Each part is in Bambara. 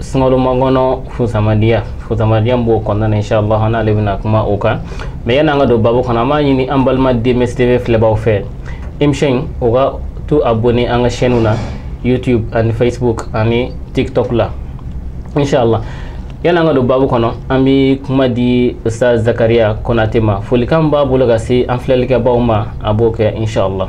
sunkalomakɔnɔ fusamadiya fusamadiya b'o kɔnɔna na inshallah an n'ale bɛna kuma o kan mɛ yanni an ka don babu kɔnɔ an b'a ɲini an balima dmstv filɛbaw fɛ émission in u ka to abonné an ka chaîne na youtube ani facebook ani tiktok la inshallah yanni an ka don babu kɔnɔ an bɛ kuma di ustaz zakariya konate ma folikan b'a bolo ka se an filɛlikɛbaaw ma a b'o kɛ inshallah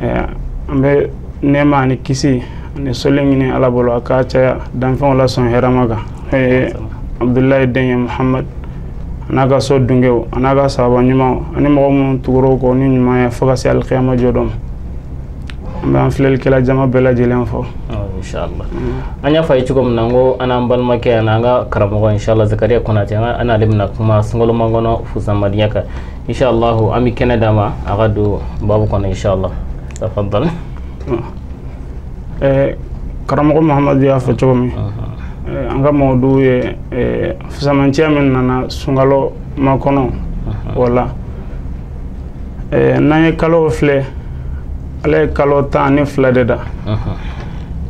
an bɛ nɛma ani kisi ani soli ɲini ala bolo a k'a caya danfɛnw la sɔn hɛrɛma kan abdullahi den ye muhamadu an'a ka so dunkɛ an'a ka sahaba ɲumanw ani mɔgɔ minnu tugura u kɔ ni ɲuman ye fo ka se alikiyama jɔ don an b'an filɛlikɛla jama bɛɛ lajɛlen fo an y'a f'aw ye cogo min na ko an n'an balimakɛ an'an ka karamɔgɔ inshallah zakariya konate an n'ale bɛna kuma sunkalomakɔnɔ fusamadiya kan inchallahu an bɛ kɛnɛ d'a ma a ka don babu kɔnɔ inchallah tafadal eh, karamɔgɔ mahamadu y'a fɔ cogo min eh, an ka mawduu ye eh, fisamanciya min nana sunkalomakɔnɔ o la n'an ye kalow filɛ ala ye kalo tan ni fila de da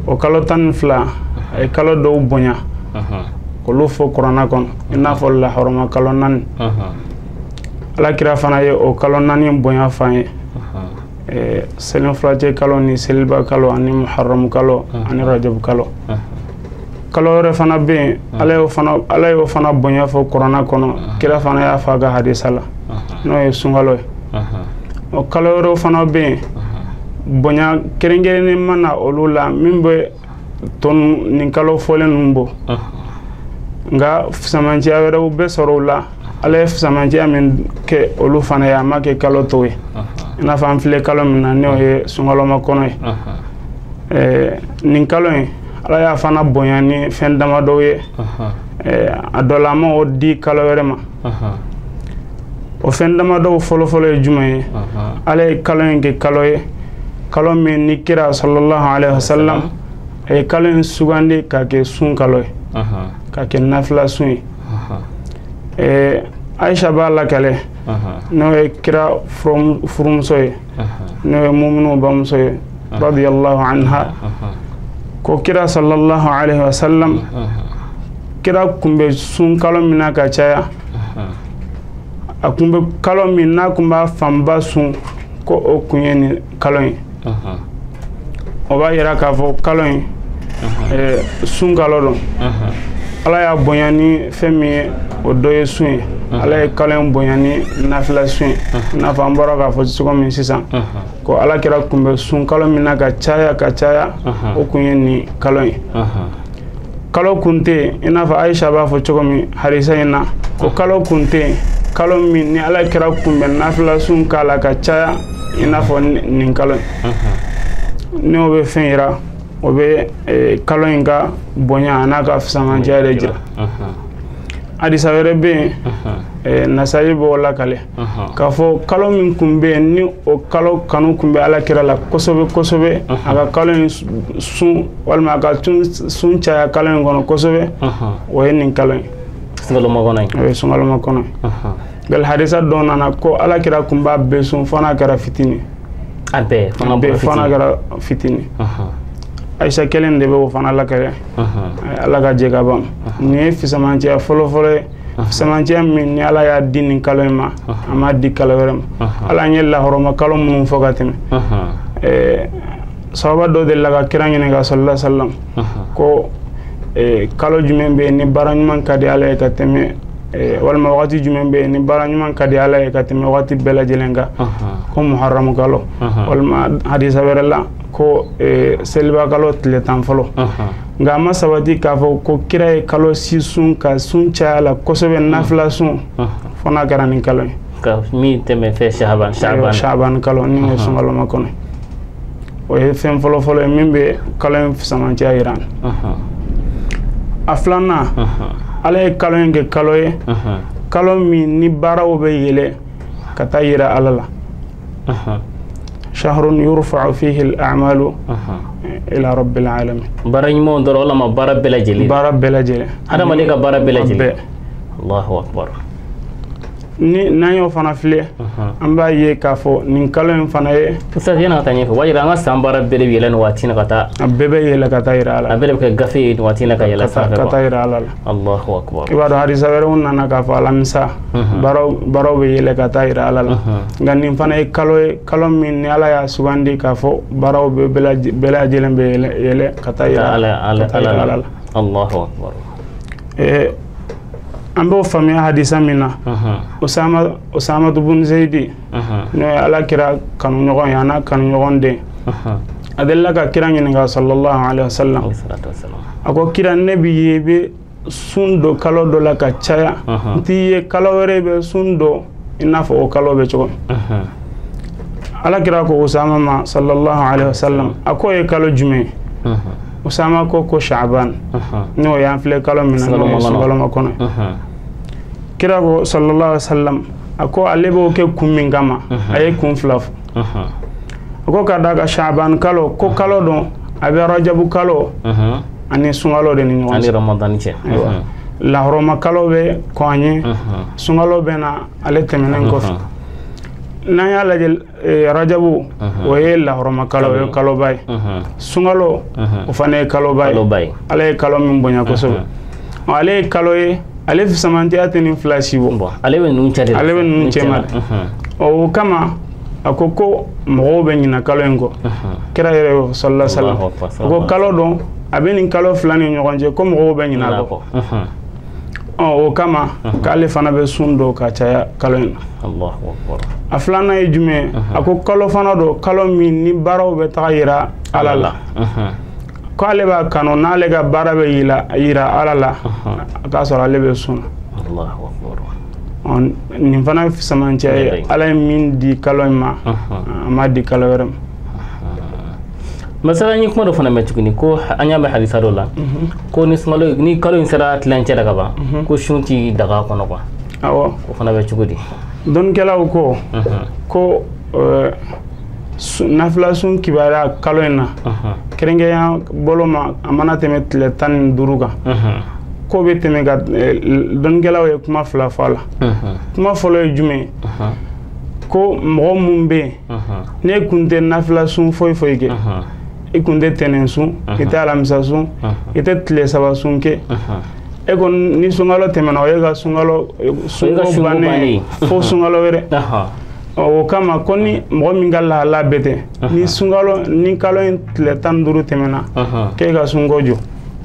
o kalo tan ni fila a ye kalo dɔw bonya k'olu fɔ kurana kɔnɔ i n'a fɔ lahɔrɔma kalo naani ala kira fana ye o kalo naani bonya f'an ye eh, selinfurancɛ kalo ni seliba kalo ani muharamu kalo ani rajabu kalo kalo wɛrɛ fana bɛ yen ala y'o fana bonya fɔ kurana kɔnɔ kira fana y'a fɔ a ka hadisa la n'o ye sunkalo ye o kalo wɛrɛw fana bɛ yen bonya kɛrɛnkɛrɛnnen ma na olu la min bɛ to nin kalo fɔlen ninnu bɔ nka fisamanciya wɛrɛw bɛ sɔrɔ u la ala ye fisamanciya min kɛ olu fana ye a m'a kɛ kalo tɔw ye i n'a fɔ an filɛ kalo min na n'o ye sunkalomakɔnɔ ye eh, nin kalo in ala y'a fana bonya ni fɛn damadɔw ye eh, a dɔ la a m'o di kalo wɛrɛ ma o fɛn damadɔw fɔlɔfɔlɔ ye jumɛn ye ala ye kalo in kɛ kalo ye kalo min ni kira salallahu alaihi wasallam a ye kalo in sugandi ka kɛ sun kalo ye ka kɛ nafila sun ye ɛɛ ayisha b'a lakale n'o ye kira furumuso ye n'o ye muminuw bamuso ye radiyallahu anha ko kira sallallahu alaihi wasallam kira kun bɛ sun kalo min na ka caya a kun bɛ kalo min n'a kun b'a fanba sun ko o kun ye nin kalo ye o b'a yira k'a fɔ kalo in eh, sun kalo don ala y'a bonya ni fɛn min ye o dɔ ye sun ye ala ye kalo in bonya ni nafila sun ye i n'a fɔ an bɔra k'a fɔ cogo min sisan ko ala kira tun bɛ sun kalo min na ka caya ka caya o kun ye nin kalo ye kalo kun tɛ yen i n'a fɔ ayisa b'a fɔ cogo min hadisa in na ko kalo kun tɛ yen kalo min ni ala kira kun bɛ nafila sun k'a la ka caya i n'a fɔ nin kalo in n'o bɛ fɛn yira o bɛ eh, kalo in ka bonya an'a ka fisamancɛya de jira hadisa wɛrɛ bɛ yen eh, nasayi b'o lakale k'a fɔ kalo min tun bɛ yen ni o kalo kanu tun bɛ ala kira la kosɛbɛ kosɛbɛ a ka kalo in sun walima a ka sun caya kalo in kɔnɔ kosɛbɛ o ye nin kalo ye sunkalomakɔnɔ ye o ye sunkalomakɔnɔ ye nka hadisa dɔ nana ko ala kira tun b'a bɛɛ sun fo n'a kɛra fitini a bɛɛ fo n'a kɛra fitini ayisa kelen de bɛ o fana lakale ala ka jɛ ka ban nin ye fisamancɛya fɔlɔfɔlɔ ye fisamancɛya min ni ala y'a di nin kalo in ma a m'a di kalo wɛrɛ ma hali an ye lahɔrɔma kalo minnu fɔ ka tɛmɛ eh, sahaba dɔ delila ka kira ɲininka salala salam ko eh, kalo jumɛn bɛ yen ni baara ɲuman ka di ala ye ka tɛmɛ eh, walima wagati jumɛn bɛ yen ni baara ɲuman ka di ala ye ka tɛmɛ wagati bɛɛ lajɛlen kan ko muharamu kalo walima hadisa wɛrɛ la ko seliba kalo tile tan fɔlɔ nka a ma sabati k'a fɔ ko kira ye kalo si sun ka sun caya a la kosɛbɛ mm. nafila sun mm. fo n'a kɛra nin kalo ye ka min tɛmɛ fɛ shaban shaban shaban kalo ni o ye sunkalomakɔnɔ o ye fɛn fɔlɔ fɔlɔ ye min bɛ kalo in fisamancɛya yira an na a filanan ala ye kalo in kɛ kalo ye kalo min ni baaraw bɛ yɛlɛ ka taa yira ala la shahrun yurfa'u fihi al-a'malu ila rabbil alamin baara ɲumanw dɔrɔn walama baara bɛɛ lajɛlen baara bɛɛ lajɛlen hadamaden ka baara bɛɛ lajɛlen allahu akbar ni n'an y'o fana filɛ an b'a ye k'a fɔ nin kalo in fana ye ustaz yanni an ka taa ɲɛfɛ o b'a yira an ka san baara bɛɛ de bɛ yɛlɛ nin waati in na ka taa a bɛɛ bɛ yɛlɛ ka taa yira ala la a bɛɛ de bɛ kɛ gafe ye nin waati in na ka yɛlɛ sanfɛ ka taa yira ala la i b'a dɔn hadisa wɛrɛw nana k'a fɔ alamisa baaraw bɛ yɛlɛ ka taa yira ala la nka nin fana ye kalo ye kalo min ni ala y'a sugandi k'a fɔ baaraw bɛ bɛɛ lajɛlen bɛ yɛlɛ ka taa yira ala la an b'o faamuya hadisa min na usamatu bun zeyidi n'o ala kira kanuɲɔgɔn ye an'a kanuɲɔgɔn den a delila ka kira ɲininka salallahu alaihi wasallam a ko kira ne b'i ye i bɛ sun don kalo dɔ la ka caya n t'i ye kalo wɛrɛ i bɛ sun don i n'a fɔ o kalo bɛ cogo ala kira ko usama ma salallahu alaihi wasallam a ko ye kalo jumɛn usama ko ko shaban n'o y'an filɛ kalo min na n'o ye sunkalo makɔnɔ kira ko salallahu alaihi wasallam a ko ale b'o kɛ kun min kama a ye kun fila fɔ a ko ka d'a kan shaban kalo ko kalo don a bɛ arajabu kalo ani sunkalo de ni ɲɔgɔn cɛ lahɔrɔma kalo bɛ kɔn a ɲɛ sunkalo bɛ na ale tɛmɛnen kɔfɛ n'an y'a lajɛ Eh, arajabu mhm. o ye lahɔrɔma kalo o ye kaloba ye mhm. sunkalo mhm. o fana ye kaloba ye ala ye kalo min bonya kosɛbɛ ale ye kalo ye ale fisamantiya tɛ nin fila si bɔ ale bɛ ninnu cɛ de ale bɛ ninnu cɛma o kama a ko ko mɔgɔw bɛ ɲina kalo in kɔ kira yɛrɛ y'o salallahu alaihi wasallam a ko kalo don a bɛ nin kalo fila ni ɲɔgɔn cɛ ko mɔgɔw bɛ ɲina a kɔ o kama k'ale fana bɛ sun don ka caya kalo in na a filanan ye jumɛn a ko kalo fana don kalo min ni baaraw bɛ taga yira ala la k'ale b'a kanu n'ale ka baara bɛ yira ala la a k'a sɔrɔ ale bɛ sun na nin fana ye fisamantiya ye ala ye min di kalo in ma a ma di kalo wɛrɛ ma masala an ye kuma dɔ fana mɛn tuguni ko an y'a mɛn hadisa dɔ la mhm. ko ni sunkalo ni kalo in sera tilancɛ la ka ban mhm. ko sun ti daga kɔnɔ kuwa awɔ o fana bɛ cogo di dɔnnikɛlaw ko mhm. ko eh, nafila sun kibaruya kalo in na kɛrɛnkɛrɛnya bolo ma a mana tɛmɛ tile tan ni duuru kan ko bɛ tɛmɛ ka eh, dɔnnikɛlaw ye kuma fila fɔ a la kuma fɔlɔ ye jumɛn ye ko mɔgɔ minnu bɛ yen n'e kun tɛ nafila sun foyi foyi kɛ i kun tɛ tɛnɛn sun i tɛ alamisa sun i tɛ tile saba sun kɛ e kɔni ni sunkalo tɛmɛna o y'e ka sunkalo sunko bannen ye fo sunkalo wɛrɛ o kama ko ni mɔgɔ min ka lahala bɛ ten ni sunkalo ni kalo in tile tan ni duuru tɛmɛna k'e ka sunko jɔ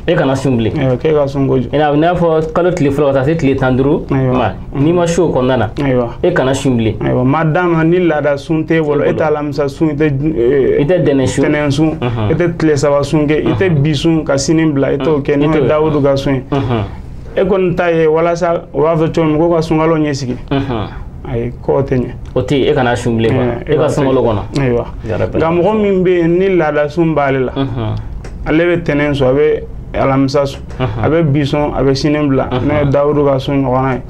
e kana sun bilen k'e ka sunko jɔ i n'a fɔ kalo tile fɔlɔ ka taa se tile tan duuru ma n'i ma sun o kɔnɔna na e kana sun bilen ayiwa ma d'a ma ni laada sun t'e bolo e tɛ alamisa sun i tɛ e, i tɛ dɛnɛn sun tɛnɛn sun e tɛ tile saba sun kɛ i tɛ bi sun ka sini bila i t'o kɛ n'o ye dawudu ka sun ye e kɔni ta ye walasa o b'a fɔ cogo min ko ka sunkalo ɲɛ sigi ayi k'o tɛ ɲɛ o tɛ e kana sun bilen kɔnɔ e ka sunkalo kɔnɔ ayiwa nka mɔgɔ min bɛ yen ni laada sun b'ale la ale bɛ tɛnɛn sun a bɛ alamisa sun a bɛ bi sun a bɛ sini bila n'o ye dawudu ka sun ɲɔgɔnna ye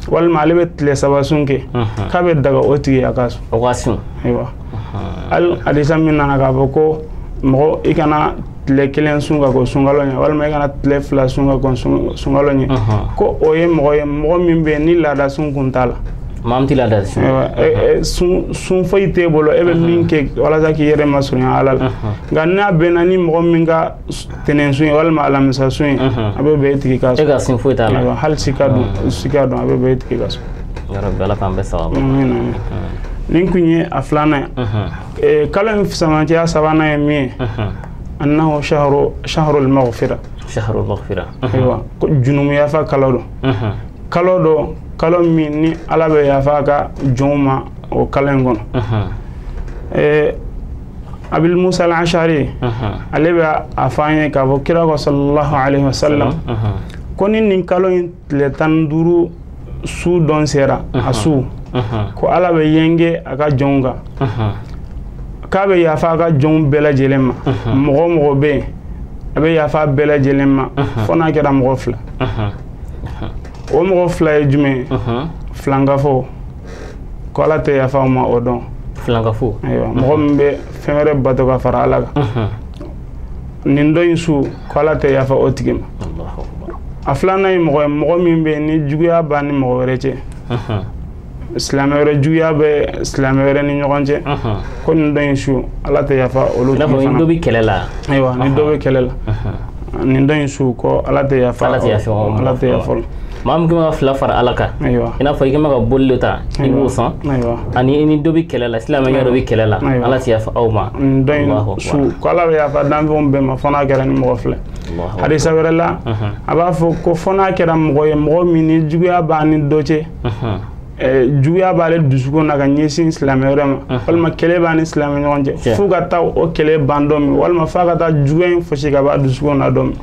walima ale bɛ tile saba sun kɛ k'a bɛ daga o tigi a ka sun ayiwa hadisa min nana k'a fɔ ko mɔgɔ i kana tile kelen sun ka kɔn sunkalo ɲɛ walima i kana tile fila sun ka kɔn sunkalo ɲɛ ko o ye mɔgɔ ye mɔgɔ min bɛ yen ni laada sun kun t'a la maa min tɛ laada sun e, e, sun sun foyi t'e bolo e bɛ min kɛ walasa k'i yɛrɛ masurunya ala la nka n'a bɛnna ni mɔgɔ min ka tɛnɛn sun ye walima alamisa sun ye a bɛ bɛn o tigi ka sun e ka sun foyi t'a la hali sika don sika don a bɛ bɛn o tigi ka sun ya rabbi ala k'an bɛn sawaba nin kun ye a filanan ye kalo in fisamancɛya sabanan ye min ye annahu shahru shahrul maghfira shahrul maghfira ayiwa ko junumu yafa kalo don kalo don kalo min ni ala bɛ yafa a ka jɔnw ma o kalo in kɔnɔ abi musa alasari ale bɛ a fɔ an ye k'a fɔ kira ko sallallahu alaihi wasallam ko ni nin kalo in tile tan duuru su don sera a su ko ala bɛ yenge a ka jɔnw kan k'a bɛ yafa a ka jɔnw bɛɛ lajɛlen ma mɔgɔ o mɔgɔ bɛ yen a bɛ yafa bɛɛ lajɛlen ma fo n'a kɛra mɔgɔ fila o mɔgɔ fila ye jumɛn ye filankafo ko ala tɛ yafa a ma o don filankafo ayiwa mɔgɔ min bɛ fɛn wɛrɛ bato ka fara ala kan nin don in su ko ala tɛ yafa o tigi ma a filanan ye mɔgɔ ye mɔgɔ min bɛ ni juguya b'a ni mɔgɔ wɛrɛ cɛ silamɛ wɛrɛ juguya bɛ silamɛ wɛrɛ ni ɲɔgɔn cɛ ko nin don in su ala tɛ yafa olu tigi fana dɔ bɛ kɛlɛ la ayiwa ni dɔ bɛ kɛlɛ la nin don in su ko ala tɛ yafa ala tɛ yafa ala tɛ yafa maa min kɛ ka fila fara ala kan i n'a fɔ i kɛ ka boli dɔ ta i b'o sɔn ani i ni dɔ bɛ kɛlɛ la silamɛ dɔ bɛ kɛlɛ la ala ti yafa aw ma don in su ko ala bɛ yafa danfɛnw bɛɛ ma fo n'a kɛra nin mɔgɔ fila ye hadisa wɛrɛ la a b'a fɔ ko fo n'a kɛra mɔgɔ ye mɔgɔ min ni juguya b'a ni dɔ cɛ Eh, juguya b'ale dusukun na ka ɲɛsin silamɛ wɛrɛ ma uh-huh. walima kɛlɛ b'a ni silamɛ ɲɔgɔn cɛ fo ka taa o kɛlɛ ban don min walima f'a ka taa juguya in fɔɔsi ka b'a dusukun na don min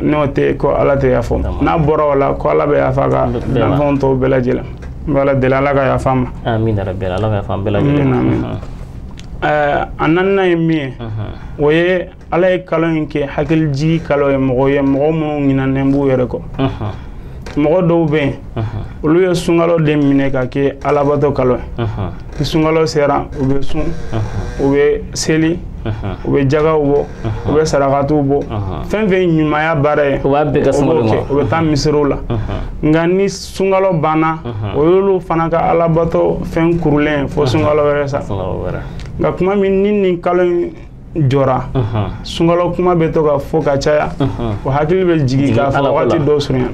n'o tɛ ko ala tɛ yafa n'a bɔra o la ko ala bɛ yafa a ka danfɛnw tɔw bɛɛ lajɛlen n bɛ ala deli ala ka yafa an ma a naaninan ye min ye o ye ala ye kalo in kɛ hakilijigi kalo ye mɔgɔ ye mɔgɔ minnu ɲinɛnen b'u yɛrɛ kɔ mɔgɔ dɔw bɛ yen olu ye sunkalo de minɛ ka kɛ alabato kalo ye ni sunkalo sera u bɛ sun u bɛ seli u bɛ jagaw bɔ u bɛ sarakatiw bɔ fɛn fɛn ɲumanya baara ye u b'a bɛɛ kɛ sunkalo ma u bɛ taa misiriw la nka ni sunkalo banna o y'olu fana ka alabato fɛn kurulen fo sunkalo wɛrɛ sa nka kuma min ni nin kalo in jɔra sunkalo kuma bɛ to ka fɔ ka caya u hakili bɛ jigin k'a fɔ wagati dɔ surunya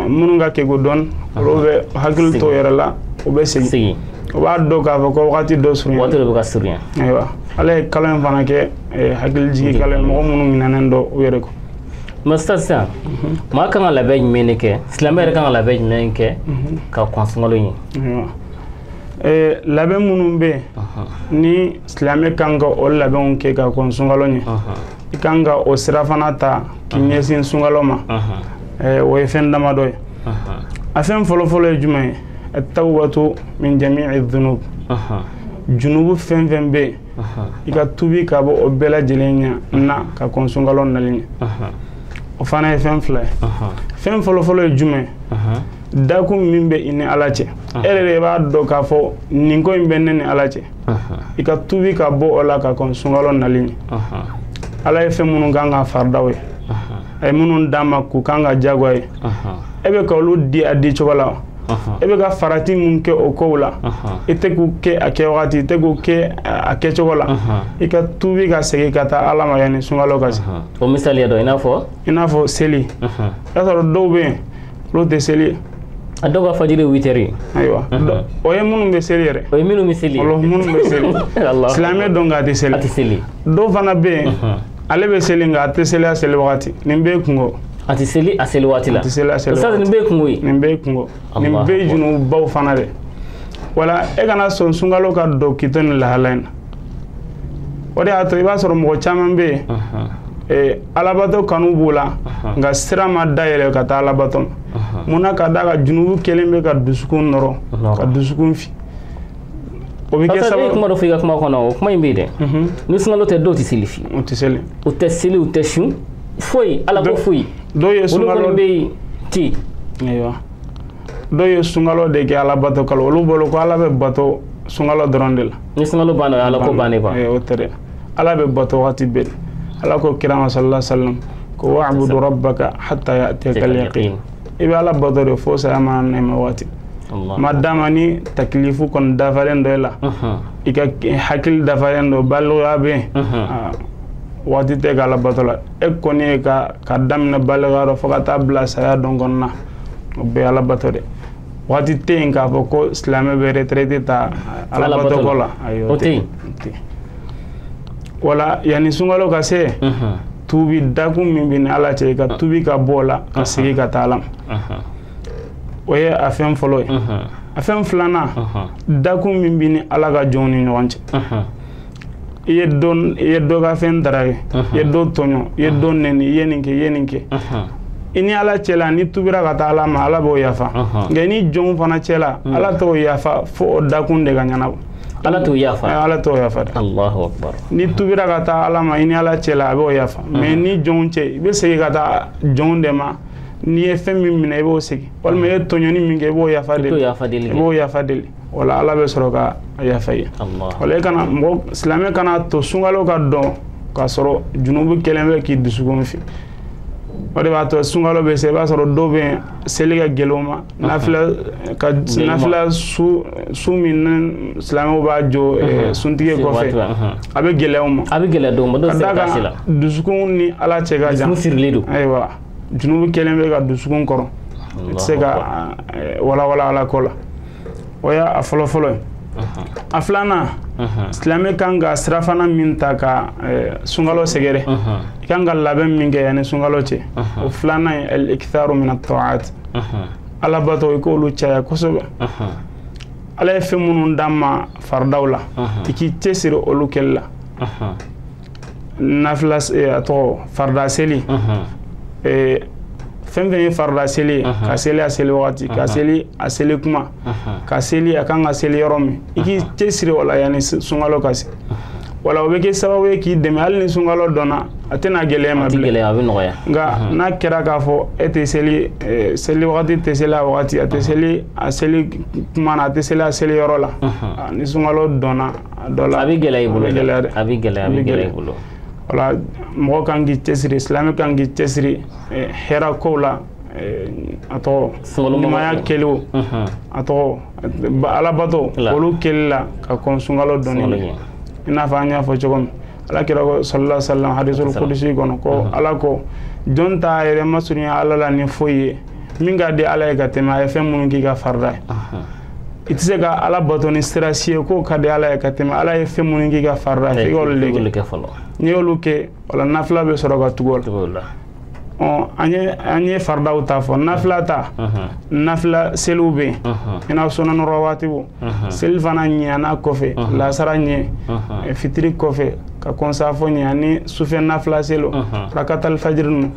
minnu ka kegun dɔɔni olu bɛ hakili to yɛrɛ la u bɛ segin u b'a dɔn k'a fɔ ko wagati dɔ surunya wagati dɔ bɛ ka surunya ayiwa ala ye kalo in fana kɛ eh, hakili jigin kalo ye mɔgɔ minnu ɲinɛnen don u yɛrɛ kɔ mɛ sisan sisan maa kan ka labɛn jumɛn de kɛ silamɛ yɛrɛ kan ka labɛn jumɛn kɛ ka kɔn sunkalo ɲɛ ayiwa eh, labɛn minnu bɛ yen ni silamɛ kan ka o labɛnw kɛ ka kɔn sunkalo ɲɛ i kan ka o sira fana ta k'i ɲɛsin sunkalo ma eh, o ye fɛn damadɔ ye a fɛn fɔlɔfɔlɔ ye jumɛn ye at-tawbatu min jami'i dhunub junubu fɛn fɛn bɛ yen i ka tubi ka bɔ o bɛɛ lajɛlen ɲɛ na ka kɔn sunkalo nali ɲɛ o fana ye fɛn fila ye fɛn fɔlɔfɔlɔ ye jumɛn dakun min bɛ i ni ala cɛ e yɛrɛ de b'a dɔn k'a fɔ nin ko in bɛ ne ni ala cɛ i ka tubi ka bɔ o la ka kɔn sunkalo nali ɲɛ ala ye fɛn minnu k'an kan faridaw ye a ye minnu d'an ma k'u k'an kan jagoya ye e bɛ ka olu di a di cogo la e bɛ ka farati min kɛ o kow la i tɛ k'u kɛ a kɛ wagati i tɛ k'u kɛ a kɛcogo la i ka tubi ka segin ka taa ala ma yanni sunkalo ka se o misaliya dɔ i n'a fɔ i n'a fɔ seli i y'a sɔrɔ dɔw bɛ yen olu tɛ seli a dɔw ka fajiri ye witiri ye ayiwa o ye minnu bɛ seli yɛrɛ o ye minnu bɛ seli minnu bɛ seli silamɛ don nk'a tɛ seli a tɛ seli dɔw fana bɛ yen ale bɛ seli nka a tɛ seli a seli wagati nin bɛɛ kunko a tɛ seli a seli waati la a tɛ seli a seli waati nin bɛɛ kunko ye nin bɛɛ kunko nin bɛɛ junububaw fana de wala e kana sɔn sunkalo ka don k'i to nin lahala in na o de y'a to i b'a sɔrɔ mɔgɔ caman bɛ yen eh, alabato kanu b'u la nka sira ma dayɛlɛ ka taa alabato ma mun na ka d'a kan junubu kɛlen bɛ ka dusukun nɔrɔ ka dusukun fin o bɛ kɛ sababu ye kuma dɔ fɔ i ka kuma kɔnɔ o kuma in bɛ yen dɛ mhm. ni sunkalo tɛ dɔw tɛ seli fewu u tɛ seli u tɛ seli u tɛ sun foyi ala ko foyi dɔw ye sunkalo olu kɔni bɛ yen ten ayiwa dɔw ye sunkalo de kɛ ala bato kalo olu bolo ko ala bɛ bato sunkalo dɔrɔn de la ni sunkalo banna o ye ala ko bannen quoi o tɛ dɛ ala bɛ bato waati bɛɛ ala ko kira ma sallallahu alaihi wa sallam ko wa'budu rabbaka hatta ya'tiyaka al-yaqin i bɛ ala bato de fo saya mana na i ma waati ma dama ni takilifu kɔni dafalen don i la i ka hakili dafalen don balikuya bɛ yen waati tɛ i ka ala bato la e kɔni ye ka k'a daminɛ balikuya rɔ fo ka taa bila saya don kɔnɔna o bɛɛ ala bato dɛ waati tɛ yen k'a fɔ ko silamɛ bɛ retraite ta ala bato ko la ayi o tɛ yen wala yanni sunkalo ka se tubi dakun min b'i ni ala cɛ ka tubi ka bɔ o la ka segin ka taa ala ma o ye a fɛn fɔlɔ ye a fɛn filanan dakun min b'i ni ala ka jɔnw ni ɲɔgɔn cɛ i ye dɔ i ye dɔ ka fɛn dara ye i ye dɔ tɔɲɔ i ye dɔ nɛni i ye nin kɛ i ye nin kɛ i ni ala cɛla n'i tubira ka taa ala ma ala b'o yafa nka i ni jɔnw fana cɛla ala t'o yafa fo o dakun de ka ɲɛnabɔ ala t'o yafa eh, ala t'o yafa dɛ allahu akbar n'i tubira ka taa ala ma i ni ala cɛla a b'o yafa mm-hmm. mais i ni jɔnw cɛ i bɛ segin ka taa jɔnw de ma n'i ye fɛn min minɛ i b'o segin walima i ye tɔɲɔni min kɛ i b'o yafa deli i b'o yafa deli o la ala bɛ sɔrɔ ka yafa i ye o la i kana mɔgɔ silamɛ kana to sunkalo ka don k'a sɔrɔ junubu kɛlen bɛ k'i dusukun fin o de b'a to sunkalo bɛ se i b'a sɔrɔ dɔw bɛ yen seli ka gɛlɛn u ma nafila su min silamɛw b'a jɔ eh, suntigɛ kɔfɛ a bɛ gɛlɛya u ma a bɛ gɛlɛya dɔw ma dɔw se ka la dusukun ni ala cɛ ka jan sirilen don ayiwa junubu kɛlen bɛ ka dusukun kɔrɔ i tɛ se ka eh, walawala ala ko la o y'a fɔlɔ fɔlɔ ye a filanan silamɛ kan ka sirafana min ta ka eh, sunkalo sɛgɛrɛ i kan ka labɛn min kɛ yanni sunkalo cɛ o filanan ye al-iktharu min at-ta'at alabato i k'olu caya kosɛbɛ ala ye fɛn minnu d'an ma faridaw la i k'i cɛsiri olu kɛli la nafila eh, a tɔgɔ farida seli eh, fɛn fɛn ye farida seli ye ka seli a seli wagati ka seli a seli kuma ka seli a kan ka seli yɔrɔ min i k'i cɛsiri o la yanni sunkalo ka se wala o bɛ kɛ sababu ye k'i dɛmɛ hali ni sunkalo donna a tɛna gɛlɛya i ma bilen gɛlɛya a bɛ nɔgɔya nka n'a kɛra k'a fɔ e tɛ seli seli wagati tɛ seli a wagati a tɛ seli a seli kuma na a tɛ seli a seli yɔrɔ la ni sunkalo donna a dɔ la a bɛ gɛlɛya i bolo a bɛ gɛlɛya dɛ a bɛ gɛlɛya a bɛ gɛlɛya i bolo wala mɔgɔ kan k'i cɛsiri silamɛ kan k'i cɛsiri hɛrɛ kow la a tɔgɔ ɲumanya kɛli o a tɔgɔ alabato olu kɛli la ka kɔn sunkalo donni la i n'a fɔ an y'a fɔ cogo min ala kira ko sallallahu alaihi wasallam hadisul qudsi kɔnɔ ko ala ko jɔn t'a yɛrɛ masurunya ala la ni foyi ye min ka di ala ye ka tɛmɛ a ye fɛn minnu k'i ka farida ye i tɛ se ka ala bato ni sira si ye k'o ka di ala ye ka tɛmɛ ala ye fɛn minnu k'i ka farida ye f'i ka olu de kɛ n'i y'olu kɛ o la nafila bɛ sɔrɔ ka tugu o la an ye faridaw ta fɔ nafila ta nafila seliw bɛ yen i n'a fɔ sunan rawatibu selifana ɲɛ n'a kɔfɛ lasara ɲɛ fitiri kɔfɛ ka kɔn saafo ɲɛ ani sufɛ nafila seliw rakatali fajiri ninnu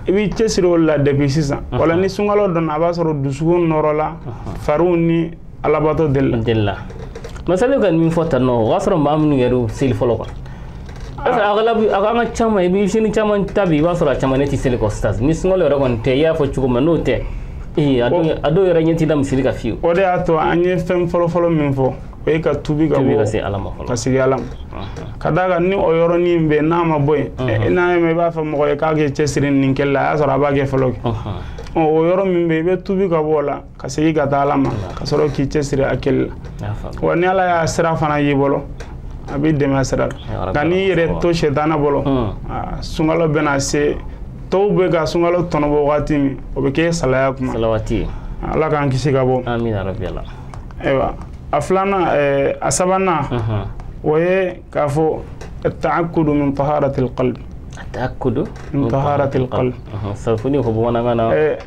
i b'i cɛsiri olu la depuis sisan wala ni sunkalo donna a b'a sɔrɔ dusukun nɔɔrɔla fariw ni alabato delila delila masali ka min fɔ tan nɔ o y'a sɔrɔ maa minnu yɛrɛ y'u seli fɔlɔ kuwa agalabu an ka maa caman i bɛ sini caman ta bi i b'a sɔrɔ a caman ne tɛ seli kɔ sisan ni sunkalo yɛrɛ kɔni tɛ i y'a fɔ cogo min n'o tɛ ee a dɔw yɛrɛ ɲɛ t'i da misiri kan fiyewu o de y'a to an ye fɛn fɔlɔfɔlɔ min fɔ o ye ka tubi ka bɔ ka se ala ma fɔlɔ ka segin ala ma ka d'a kan ni o yɔrɔnin bɛ n'a ma bɔ yen n'a ye ma i b'a fɔ mɔgɔ ye k'a k'i cɛsiri nin kɛli la a y'a sɔrɔ a b'a kɛ fɔlɔ kɛ o yɔrɔ min bɛ yen i bɛ tubi ka bɔ o la ka segin ka taa ala ma ka sɔrɔ k'i cɛsiri a kɛli la wa ni ala y'a sira fana y'i bolo a b'i dɛmɛ sira la nka n'i yɛrɛ to sɛtana bolo hmm. sunkalo bɛna se tɔw bɛ ka sunkalo tɔnɔbɔ wagati min o bɛ kɛ salaya kuma ala k'an kisi ka bɔ ayiwa a filanan eh, a sabanan mhm. o ye k'a fɔ attaakudu min taharatil qalbi attaakudu min taharatil qalbi mhm. ça veut dire ko bamanankan na eh,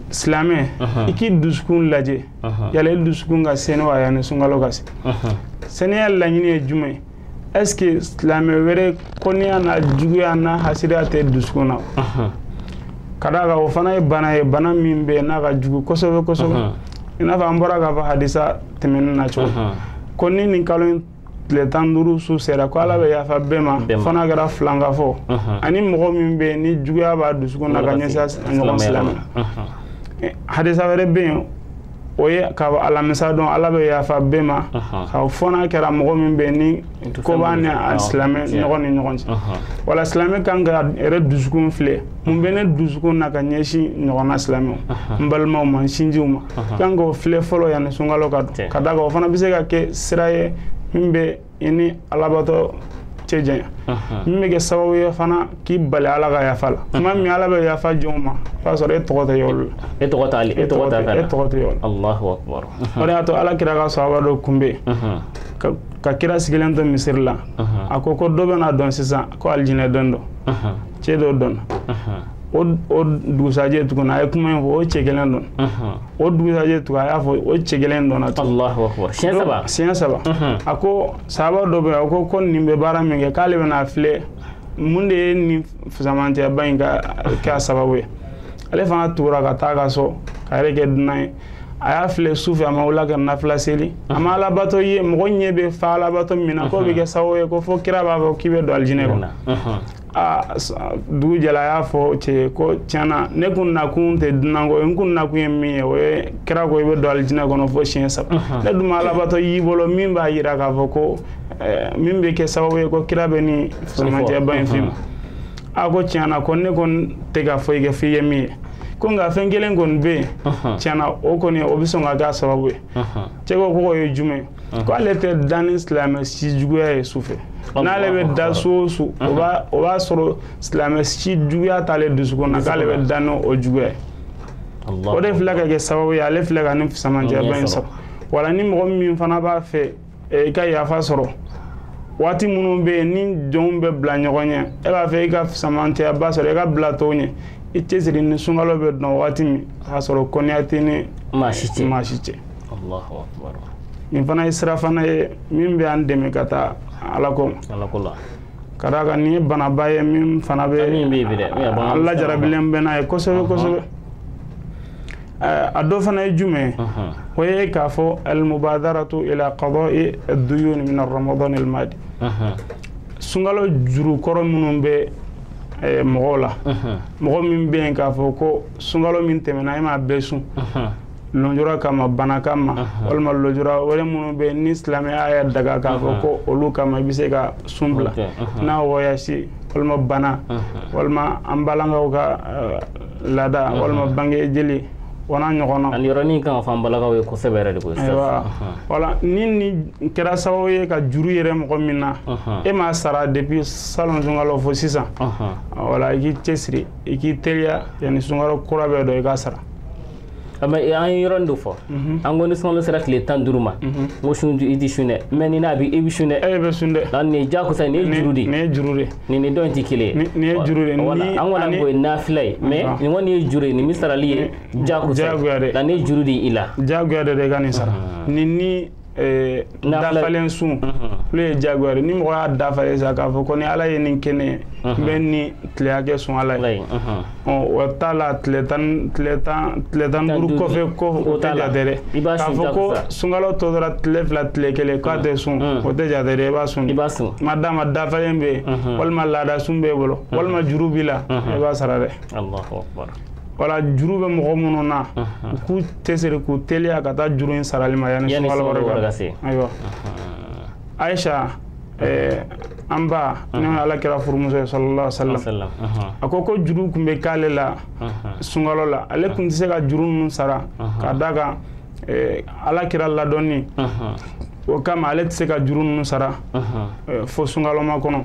silamɛ i k'i dusukun lajɛ yala i dusukun ka sɛni wa yanni sunkalo ka se sɛniya laɲini ye jumɛn ye est ce que silamɛ wɛrɛ kɔniya n'a juguya n'a hasidiya tɛ dusukun na ka d'a kan o fana ye bana ye bana min bɛ n'a ka jugu kosɛbɛ kosɛbɛ i n'a fɔ an bɔra k'a fɔ hadisa tɛmɛnen na cogo ko ni nin kalo in tile tan duuru su sera ko ala bɛ yafa bɛɛ ma fo n'a kɛra filankafo ani mɔgɔ min bɛ ni juguya b'a dusukun na ka ɲɛsin a ɲɔgɔn silamɛ ma hadisa wɛrɛ bɛ yen o ye k'a fɔ alamisa dɔn ala bɛ yafa bɛɛ ma ka fɔ n'a kɛra mɔgɔ min bɛ ni ko b'a n'a silamɛ ɲɔgɔn ni ɲɔgɔn cɛ wala silamɛ kan k'a yɛrɛ dusukun filɛ mun bɛ ne dusukun na ka ɲɛsin ɲɔgɔnna silamɛw n balimaw ma n sinjiw ma kan k'o filɛ fɔlɔ yanni sunkalo ka don ka d'a kan o fana bɛ se ka kɛ sira ye min bɛ i ni alabato cɛ janya min bɛ kɛ sababu ye fana k'i bali ala ka yafa la tuma min ala bɛ yafa jɔnw ma o b'a sɔrɔ e tɔgɔ tɛ olu la e tɔgɔ t'a la e tɔgɔ t'a e tɔgɔ tɛ olu la Allahu akbar o de y'a to ala kira ka sahaba dɔ kun bɛ yen ka kira sigilen to misiri la a ko ko dɔ bɛna don sisan ko alijinɛ den don cɛ dɔ donna o dugusajɛ tuguni a ye kuma in fɔ o cɛ kelen donna o dugusajɛ tugun a y'a fɔ o cɛ kelen donna tugun siɲɛ saba a ko sahaba dɔ bɛ a ko ko nin bɛ baara min kɛ k'ale bɛna filɛ mun de ye nin fisamantiyaba in ka k'a sababu ye ale fana tugura ka taa a ka so k'a yɛrɛ kɛ dunan ye a y'a filɛ su fɛ a ma wuli ka nafila seli a ma alabato ye mɔgɔ ɲɛ bɛ fa alabato min na k'o bɛ kɛ sababu ye ko fo kira b'a fɔ k'i bɛ don alijinɛ kɔnɔ aa dugu jɛla a y'a fɔ cɛ ko tiɲɛna ne kun nakun tɛ dunanko ye n kun nakun ye min ye o ye kira ko i bɛ don alijinɛ kɔnɔ fo siɲɛ saba ne dun ma alabato y'i bolo min b'a jira k'a fɔ ko min bɛ kɛ sababu ye ko kira bɛ nin fisamantiyaba in f'i ma a ko tiɲɛna ko ne kɔni tɛ ka foyi kɛ f'i ye min ye ko nka fɛn kelen kɔni bɛ yen tiɲɛna o kɔni o bɛ sɔn ka k'a sababu ye cɛ ko k'o ye jumɛn ye ko ale tɛ da ni silamɛ si juguya ye su fɛ n'ale bɛ da su o su o b'a sɔrɔ silamɛ si juguya t'ale dusukun na k'ale bɛ da n'o o juguya ye o de filɛ ka kɛ sababu ye ale filɛ ka nin fisamantiyaba in sɔrɔ wala ni mɔgɔ min fana b'a fɛ eh, i ka yafa sɔrɔ waati minnu bɛ yen ni jɔnw bɛ bila ɲɔgɔn ɲɛ e b'a fɛ i ka fisamantiyaba sɔrɔ i ka bila tɔw ɲɛ i cɛsiri ni sunkalo bɛ don waati min k'a sɔrɔ kɔniya t'i ni maa si cɛ nin fana ye sira fana ye min bɛ an dɛmɛ ka taa ala ko ma ka d'a kan nin ye banaba ye min fana bɛ an lajarabilen bɛ n'a ye kosɛbɛ kosɛbɛ a dɔ fana ye jumɛn o ye k'a fɔ almubadaratu ila qada'i ad-duyun min ar-ramadan al-madi sunkalo juru kɔrɔ minnu bɛ Eh, mɔgɔw la mɔgɔ min bɛ yen k'a fɔ ko sunkalo min tɛmɛna e m'a bɛɛ sun lɔnjura kama bana kama walima lɔnjura wɛrɛ minnu bɛ ni silamɛya y'a daga k'a fɔ ko olu kama i bɛ se ka sun bila n'a wɔyasi walima bana walima an balakaw ka eh, laada mhm. walima bange jeli o n'a ɲɔgɔnna ani yɔrɔnin kan ka fɔ an balakaw ye kosɛbɛ yɛrɛ de koyi ayiwa wala ni nin kɛra sababu ye ka juru yɛlɛ mɔgɔ min na e m'a sara depuis salon sunkalo fo sisan wala i k'i cɛsiri i k'i teliya yanni sunkalo kura bɛ don i k'a sara an ye yɔrɔnin dɔ fɔ mhm. an ko ni sunkalo sera tile tan duuru ma mhm. n ko sun i tɛ sun dɛ mais ni n'a bɛ i bɛ sun dɛ e bɛ sun dɛ nin ye jakosa nin ye juru de nin ye juru de nin ni dɔ in tɛ kelen ye nin ye juru de an kɔni k'o ye nafila ye mais nin kɔni ye juru ye nin min sarali ye jakosa ye nka nin ye juru de i la jagoya de i ka nin sara nin ni Eh, dafalen sun olu ye jagoya ni mɔgɔ y'a dafalen sa k'a fɔ ko ni ala ye nin kɛ ne ye n bɛ nin tile hakɛ sun ala ye o t'a la tile tan duuru kɔfɛ ko o tɛ jate dɛ k'a fɔ ko sunkalo tɔ tora tile fila tile kelen k'a tɛ sun o tɛ jate dɛ i b'a sun madama dafalen bɛ yen walima laada sun b'e bolo walima juru b'i la i b'a sara dɛ wala juru bɛ mɔgɔ minnu na u k'u cɛsiri k'u teliya ka taa juru in sarali ma yanni sunkalo wɛrɛ ka se ayiwa ayisa eh, an ba n'o ye ala kira furumuso ye sallallahu alaihi wasallam a ko ko juru tun bɛ k'ale la sunkalo la ale tun tɛ se ka juru ninnu sara ka d'a kan eh, ala kira ladɔnni o kama ale tɛ se ka juru ninnu sara eh, fo sunkalomakɔnɔ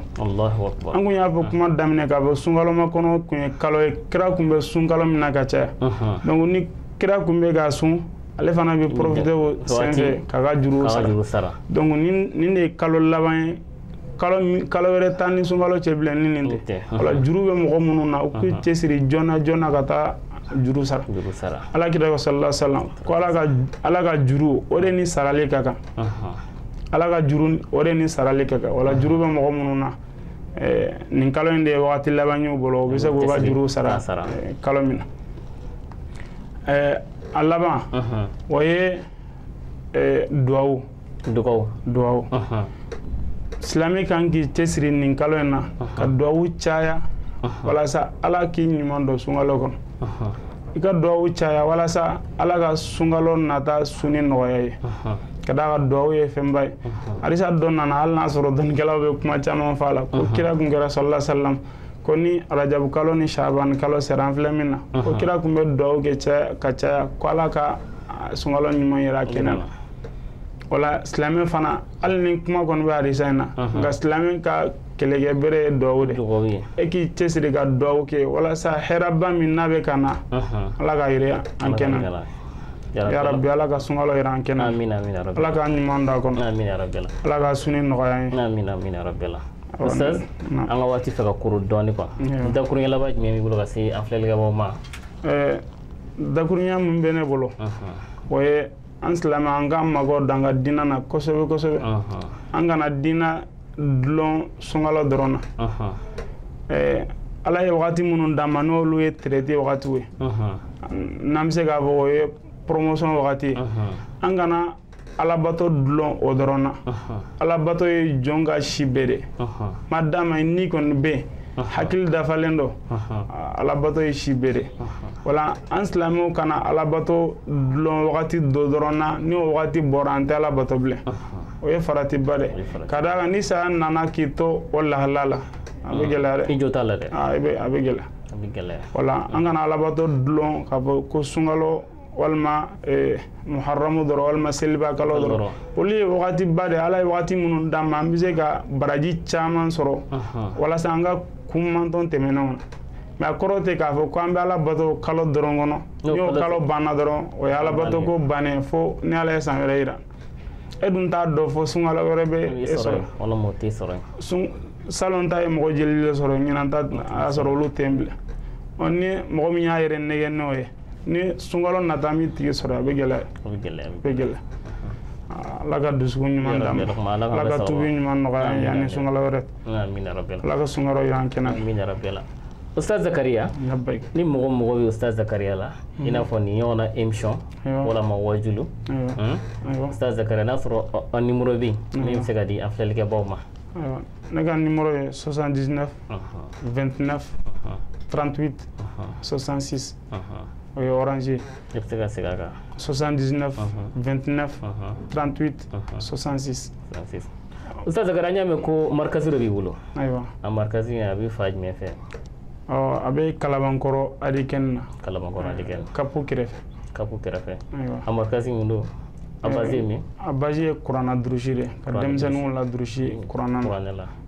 an kun y'a fɔ kuma daminɛ k'a fɔ sunkalomakɔnɔ kun ye kalo ye kira kun bɛ sun kalo min na ka caya donc ni kira kun bɛ ka sun ale fana bɛ profiter o senfɛ k'a ka juru sara donc nin de ye kalo laban ye kalo kalo wɛrɛ t'an ni sunkalo cɛ bilen ni nin tɛ wala juru bɛ mɔgɔ minnu na u k'u cɛsiri joona joona ka taa juru sara ala kira ko sallallahu sallam ko ala ka juru o de ni sarali ka kan ala ka juru o de ni sarali ka kan wala juru bɛ mɔgɔ minnu na eh, nin kalo in de ye wagati laban y'u bolo u bɛ se k'u ka juru sara eh, kalo min na eh, a laban o ye duwawu dugawu dugawu silamɛ kan k'i cɛsiri nin kalo in na ka dugawu caya walasa ala k'i ɲuman don sunkalo kɔnɔ i ka dugawu caya walasa ala ka sunkalo nata suni nɔgɔya i ye ka d'a kan dugawu ye fɛnba ye hadisa dɔ nana hali n'a sɔrɔ dɔnnikɛlaw bɛ kuma caman fɔ a la ko kira kun kɛra sallallahu sallam ko ni rajabu kalo ni shaban kalo sera an filɛ min na ko kira kun bɛ dugawu kɛ caya ka caya ko ala ka sunkalo ɲuman yira kɛnɛ na wala silamɛ fana hali ni kuma kɔni bɛ hadisa in na nka silamɛ ka kɛlɛkɛ bere ye duwawu de ye k'i cɛsiri ka duwawu kɛ walasa hɛrɛba min n'a bɛ ka na ala k'a yira an kɛnɛ ya rabbi ala ka sunkalo yira an kɛnɛ ala ka ɲuman d'a kɔnɔ ala ka suni nɔgɔya an ye ustaz an ka waati fɛ ka kuru dɔɔni quoi dakuruɲɛ laban jumɛn b'i bolo ka se an filɛlikɛbaaw ma dakuruɲɛ min bɛ ne bolo o ye an silamɛ an k'an mago d'an ka diinɛ na kosɛbɛ kosɛbɛ an kana diinɛ dulon sunkalo dɔrɔn na eh, ala ye wagati minnu d'an ma n'olu ye traite wagatiw ye n'an bɛ se k'a fɔ o ye promotion wagati ye an kana alabato dulon o dɔrɔn na alabato ye jɔn ka si bɛɛ de madama i ni kɔni bɛ yen hakili dafalen don alabato ye si bɛɛ de wala an silamɛw kana alabato dulon wagati dɔ dɔrɔn na ni o wagati bɔra an tɛ alabato bilen o ye faratiba de ka d'a kan ni saya nana k'i to o lahala la a bɛ gɛlɛya dɛ i jo t'a la dɛ a bɛ gɛlɛya wala an kana alabato dulon k'a fɔ ko sunkalo walima eh, muharamu dɔrɔn walima seliba kalo dɔrɔn olu ye wagati ba de ala ye wagati minnu d'an ma an bɛ se ka baraji caman sɔrɔ walasa an ka kun mantɔn tɛmɛnenw na mais a kɔrɔ tɛ k'a fɔ ko an bɛ ala bato kalo dɔrɔn kɔnɔ n'o kalo banna dɔrɔn o ye ala bato ko bannen fo ni ala ye san wɛrɛ yira e dun t'a dɔn fo sunkalo wɛrɛ bɛ e sɔrɔ salon ta ye mɔgɔ joli de sɔrɔ ɲinan ta a y'a sɔrɔ olu tɛ yen bilen ni mɔgɔ min y'a yɛrɛ nɛgɛn n'o ye ni sunkalo nata min tigi sɔrɔ a bɛ gɛlɛya a bɛ gɛlɛya a bɛ gɛlɛya ala ka dusukun ɲuman d'an ma ala ka tubi ɲuman nɔgɔya an ye yanni sunkalo wɛrɛ ala ka sunkalo y'an kɛnɛ Ustaz Zakaria ni mɔgɔ mago bɛ Ustaz Zakaria la i n'a fɔ nin ɲɔgɔnna émission walama wajulu Ustaz Zakaria n'a sɔrɔ a numéro bɛ yen min bɛ se ka di an filɛlikɛbaaw ma ne ka numéro ye 79 29 38 66 o ye orange i bɛ se ka segin a kan 79 29 38 66 Ustaz Zakaria an y'a mɛn ko markazi dɔ b'i bolo ayiwa a markazi in a bɛ fan jumɛn fɛ ɔ a bɛ kalabankɔrɔ adikɛni na kalabankɔrɔ adikɛni kapu kɛrɛfɛ kapu kɛrɛfɛ ayiwa a markazi min don a base ye min a base ye kuranna durusi de ka denmisɛnninw ladurusi kuranna na kuranɛ la